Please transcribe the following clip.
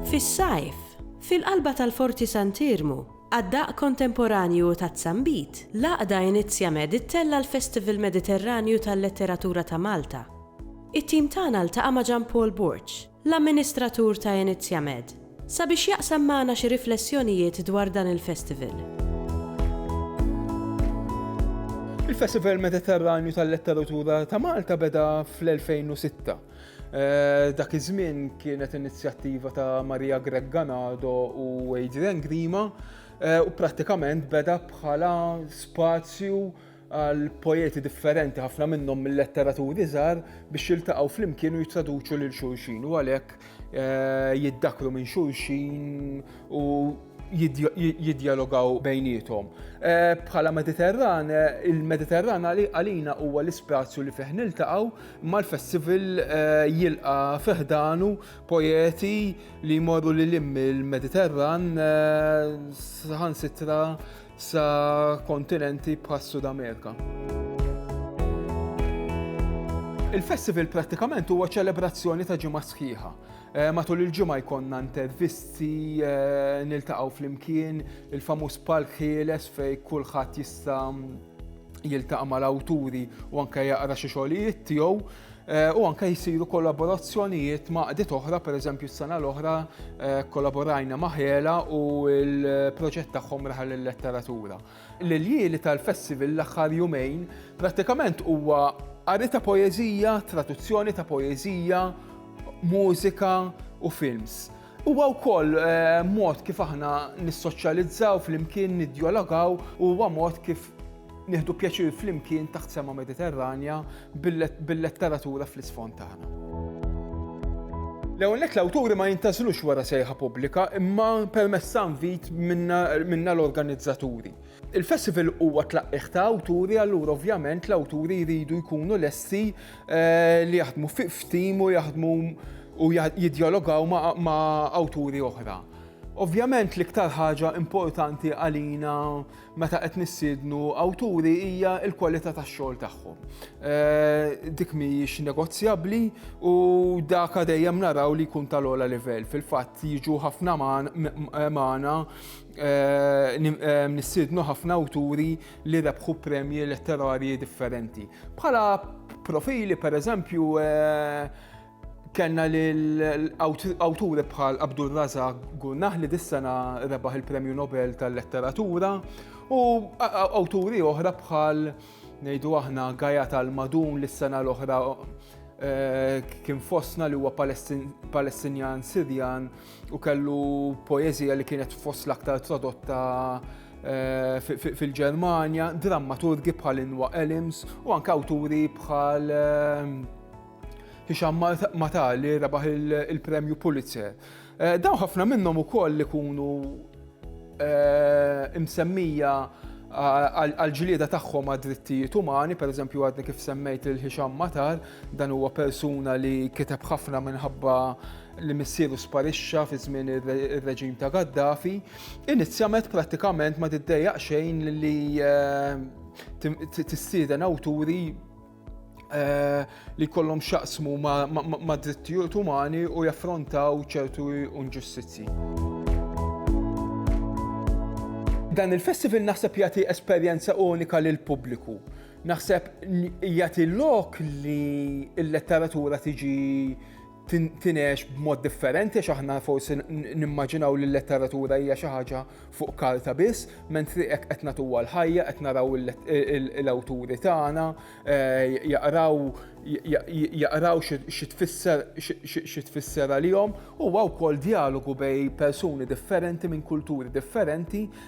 Fis-sajf, fil-qalba tal-Forti Sant'Iermu, għad-daqq kontemporanju u taz-zambit, l-għaqda Inizja Med ittella' l-Festival Mediterranju tal-Letteratura ta' Malta. It-tim tagħna ltaqa' ma' Jean Paul Borg, l-amministratur ta' Inizjamed, sabiex jaqsam magħna xi riflessjonijiet dwar dan il-festival. Il-Festival Mediterranju tal-Letteratura ta' Malta beda fl-2006. Dak iż-żmien kienet inizjattiva ta' Maria Grech Ganado u Adrian Grima u prattikament beda bħala spazju għal poeti differenti ħafna minnhom mill-letteraturi żgħar biex jiltaqgħu flimkien u jittraduċu lil xulxin u għalhekk eh, jiddakru minn xulxin u jidjalogaw bejnietom. Eh, bħala Mediterran, eh, il-Mediterran għalina huwa l-ispazju li fih niltaqgħu mal-festival eh, jilqa fiħdanu poeti li jmorru li lim il-Mediterran saħan sitra sa kontinenti bħas-Sud Amerika. Il-festival prattikament huwa ċelebrazzjoni ta' ġimgħa sħiħa. Eh, matul il-ġimgħa jkollna intervisti, eh, niltaqgħu flimkien, il-famuż palk ħieles fej kulħadd jista' jiltaqa' mal-awturi u anke jaqra xi xogħlijiet tiegħu. u anke jsiru kollaborazzjonijiet ma' għaqdiet oħra, pereżempju s-sena l-oħra eh, kollaborajna ma' Ħela u l-proġett tagħhom raħal il-letteratura. L-iljili tal-festival l-aħħar jumejn prattikament huwa qari ta' poeżija, traduzzjoni ta' poeżija, mużika u films. Huwa wkoll mod kif aħna nissoċjalizzaw flimkien, niddjalogaw, u huwa mod kif nieħdu pjaċir flimkien taħt sema Mediterranja bil-letteratura fl-isfond tagħna. L-ewwel nett l-awturi ma jintgħażlux wara sejħa pubblika imma permezz ta' invit minna l-organizzaturi. Il-festival huwa tlaqqih ta' awturi, allura ovvjament l-awturi jridu jkunu lesti eh, li jaħdmu f'tim u jaħdmu u jidjalogaw ma' awturi oħra. Ovvjament l-iktar ħaġa importanti għalina meta qed nissiednu awturi hija l-kwalità tax-xogħol tagħhom. Eh, dik mhijiex negozjabbli u dak dejjem naraw li jkun tal-ogħla livell. Fil-fatt jiġu ħafna magħna nissiednu ħafna awturi li rebħu premji letterarji differenti. Bħala profili, per eżempju, kellna l-awturi bħal Abdul Raza Gunnah li dis-sena rebaħ il-Premju Nobel tal-Letteratura u awturi oħra bħal ngħidu aħna Gaja tal-Madun li s-sena l-oħra kien fosna li huwa Palestinjan Sirjan u kellu poeżija li kienet fost l-aktar tradotta eh, fil-Ġermanja, drammaturgi bħal Inwa Elims u anke awturi bħal eh, Hisham Mata li rebaħ il-premju Pulitzer. Eh, dawn ħafna minnhom ukoll li kunu Eh, imsemmija għal-ġlieda tagħhom għad drittijiet umani, per eżempju għadni kif semmejt il-ħixam matar, dan huwa persuna li kiteb ħafna minħabba li missieru sparixxa fi żmien ir-reġim ta' Gaddafi, inizjament prattikament ma tiddejjaq xejn li eh, tissieden awturi Eh, li kollom xaqsmu ma' drittijiet umani u jaffrontaw ċertu unġustizzi. Dan il-festival naħseb jagħti esperjenza unika lil pubbliku. Naħseb jagħti lok li l-letteratura tiġi tintinegħex b'mod differenti għax aħna forsi nimmaġinaw li l-letteratura hija xi ħaġa fuq karta biss, mentri hekk qed nagħtuha l-ħajja, qed naraw l-awturi tagħna, eh, jaqraw jaqraw xi tfisser xi tfisser għalihom, huwa wkoll dialogu bej persuni differenti minn kulturi differenti